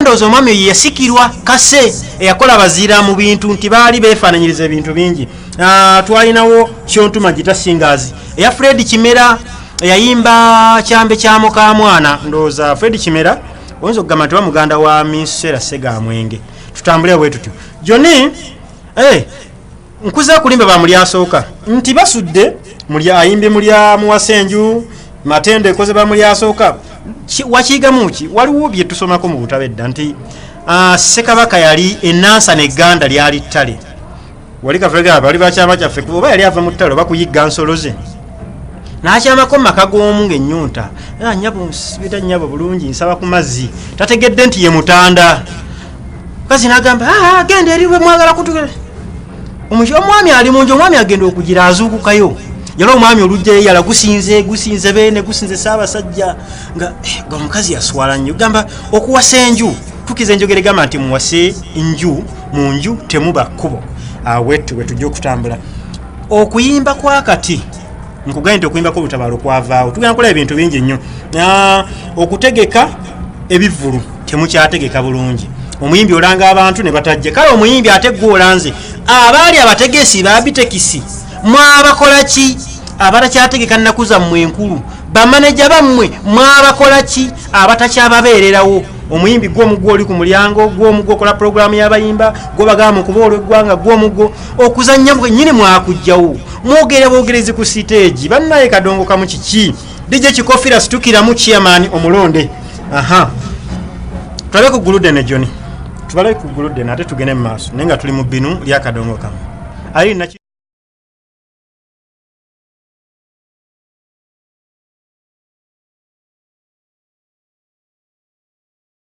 ndowooza omwami oyo yasikirwa kase eyakola abaziira mu bintu nti baali beefaananyiriza ebintu bingi ah, twalinawo kyontuma gita singers eya fred kimera eyayimba kyambe kya mukamwana ndowooza fred kimera oyinza okugamba nti bamuganda wa minsera segamwenge tutambuleo bwe tutyo joni eh, nkuze kulimba ba muli asooka nti basudde muli ayimbi muli amuwasenju matendo ekoze ba muli asooka wakiigamu ki waliwo bye tusomako mu butabo edda nti ah, sekabaka yali enansa neganda lyali ttale wali kafega bali bakyama kyaffe kuba oba yali ava mu ttale oba kuyigga nsolo ze nakyamako maka g'omu ngaenyonta ah, nyabo nsibira nyabo bulungi nsaba ku mazzi tategedde nti ye mutanda kazi nagamba ah, ah, genda eri mwagala kutugera omwami ali munju omwami agenda okugira azuukukayo yala omwami olujja yeyala gusinze gusinze bene gusinze saabasajja nga eh, ga omukazi yaswala nnyo gamba okuwasa enju tukiza enjogera egamba nti muwase nju mu nju temuba kkubo awetu ah, wetujja okutambula okuyimba kwakati nkugambye nti okuyimbako olutabaalo kwavaawo tugenda kulaba ebintu bingi nnyo ah, okutegeka ebivulu temukyategeka bulungi omuyimbi olanga abantu ne batajje kale omuyimbi ate gwe olanze abaali abategesi babitekisi mwabakola ki abatakyategeka nnaku zammwe enkulu bamaneja bammwe mwabakola ki abatakyababeererawo omuyimbi gwe omugwo oli ku mulyango gwe omugwo okola pulogulaamu y'abayimba gwe bagamba mu kuba olw'eggwanga gwe omugwo okuzannya nyini mwakujjawo mwogere bogerezi ku siteegi bannaye kadongo kamu kiki DJ Kikofira situkiramu chairman omulonde aha tulabe ku gulude ne Johnny tubale ku gulude nate tugene mu maaso naye nga tuli mu binu lya kadongo kamu ali na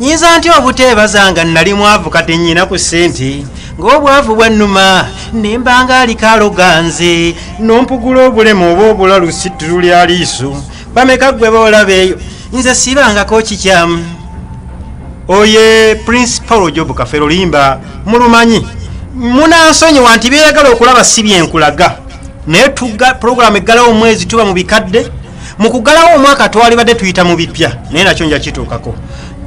nyinza ntya obuteebaza nga nnali mwavu kati nnyina ku ssente ng'obwavu bwannuma ne mbanga aliko aloganze n'ompugula obulemu oba obulalu situlu lya liiso bameka ggwe boolaba eyo nze siibangako kikyamu oye prince paul job kafero limba mulumanyi munansonyiwa nti byeyagala okulaba si byenkulaga naye pulogulaamu eggalawo omwezi tuba mu bikadde mu kugalawo omwaka twalibadde tuyita mu bipya naye nakyo nja kituukako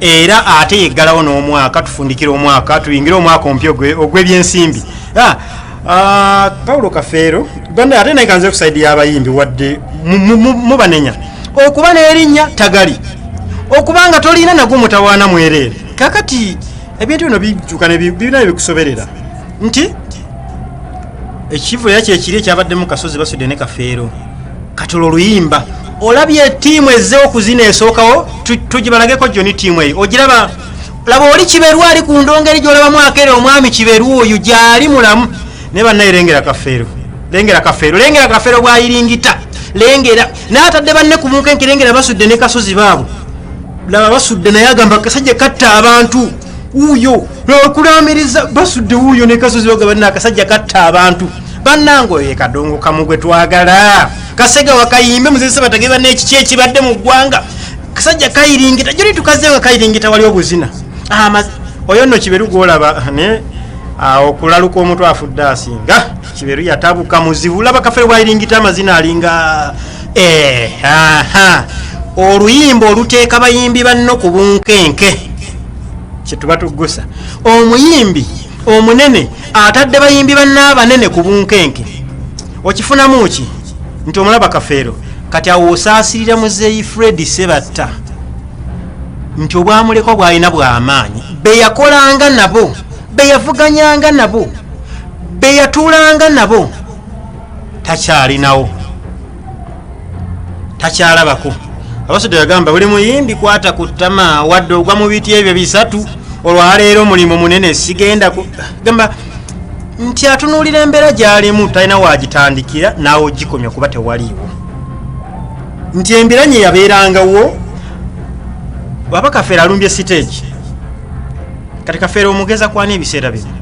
era ate yeggalawo n'omwaka tufundikira omwaka tuyingire omwaka omupya ogw'ebyensimbi ah, ah, paulo kafeero ganda ate naye kanze kusaidi y'abayimbi wadde mubanenya okuba n'erinnya tagali okuba nga tolina nagwo mutawaana mwereere kakati ebintu bino bijuka birina bikusoberera nti ekivulu era kyekiri ekyabadde mu kasozi basudde ne kafeero katola oluyimba olabye tiimu ezze okuzina esookawo tugibalageko joni tiimu eyo ogiraba laba oli kiberu ali ku ndongo eri gyolabamu akere omwami kiberu oyo gyali mulamu naye bannaye lengera kafeero lengera kafeero lengera kafeero bwayiringita lengera naye atadde banne ku munkenke lengera basudde ne kasozi baabo laba basudde naye agamba kasajja katta abantu wuuyo lwakulambiriza basudde wuuyo nekasozi baga balina akasajja katta abantu bannanga oyo ekadongo kamu gwe twagala kasega wakayimbe muzese batage banna ekiki ekibadde mu ggwanga kasajja kayiringita joli tukaze nga kayiringita wali obuzina ah, oyo nno kiberu gwolaba naye ah, okulaluka omuntu afudde asinga kiberu yatabuka muzibu laba kafere bwayiringita amazina alinga Eh, aha oluyimba oluteeka bayimbi banno ku bunkenke kyetuba tuggusa omuyimbi omunene atadde bayimbi banno abanene ku bunkenke okifunamu ki nti omulaba kafeero kati awo osaasirira muzeeyi fred sebatta nti obwamulekwa bwalina bwamaanyi beyakolanga nabo beyavuganyanga nabo beyatuulanga nabo takyalinawo takyalabako abasajja yagamba buli muyimbi kwata ku ttama wadde ogwa mu biti ebyo bisatu olwaleero omulimu munene sigenda gamba nti atunuulira embeera gyalimu talina wagitandikira naawe ogikomya kuba tewaliiwo nti embeera nye yabeerangawo baba kafeera alumbye siteegi kati kafeera omugeza kwana ebiseera bino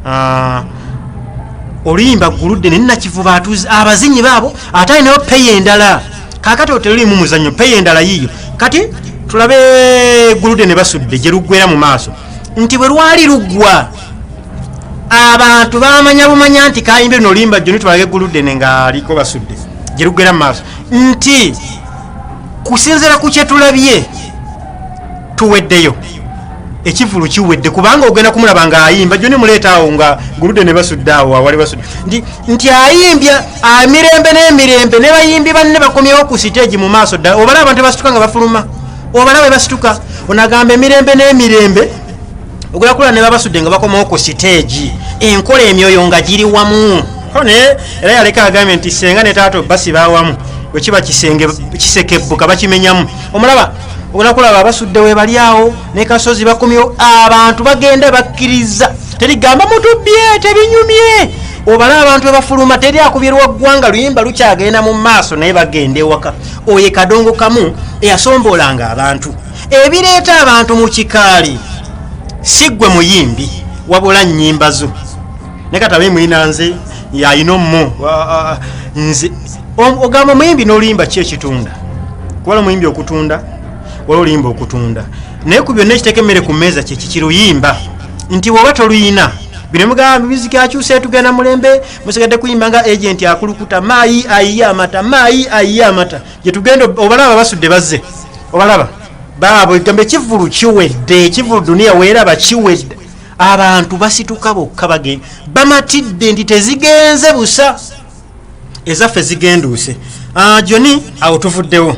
ah, oluyimba guludde naye nakivuba atuzi abazinyi baabo ate alinayo peyi endala kakati otelulimu muzanyo peyi endala yiyo kati tulabe guludde ne basudde gye luggwera mu maaso nti bwe lwali luggwa abantu bamanya bumanya nti kayimbe noluyimba jjo nitwalage guludde ne ngaaliko basudde gye luggwera mu maaso nti kusinzira ku kyetulabye tuweddeyo ekivulu kiwedde kubanga ogenda kumulaba nga ayimba jo nemuleetaawo nga gulude ne basudde awo awali basudde nti nti ayimbya amirembe n'emirembe ne bayimbi banne bakomyewo ku siteegi mu maaso ddala obalaba abantu basituka nga bafuluma obalaba bebasituka onagamba emirembe n'emirembe okulakulana ne babasudde nga bakomawo ku siteegi enkola emyoyo nga giri wamu naye era yaleka agambye nti senga ne taata obasi bawamu wekiba kisenge kisekebbuka bakimenyamu omulaba onakulaba abasudde webali awo ne kasozi bakomyewo abantu bagenda bakkiriza terigamba mutubbye tebinyumye obala abantu ebafuluma teri akubirwa ggwanga luyimba lukyagenda mu maaso naye bagenda ewaka oyo kadongo kamu eyasoomboolanga abantu ebireeta abantu mu kikaali si ggwe muyimbi wabula nnyimba zo ne katabe mulina nze yalina omu nze ogamba omuyimbi n'oluyimba ki ekitunda kubala omuyimbi okutunda wala oluyimba okutunda naye ku byonna ekiteeka emmere ku mmeeza kyekikiruyimba nti woba toluyina bino mugamba mibiziki akyusa etugenda mulembe musigadde kuyimba nga agenti akulukuta maayi ayiye amata maayi ayiye amata gyetugenda obalaba basudde bazze obalaba baabo egamba ekivulu kiwedde ekivulu duniya weeraba kiwedde abantu basituka bokka bagen bamatidde nti tezigenze busa ezaffe zigenduuse ah, joni awo tuvuddewo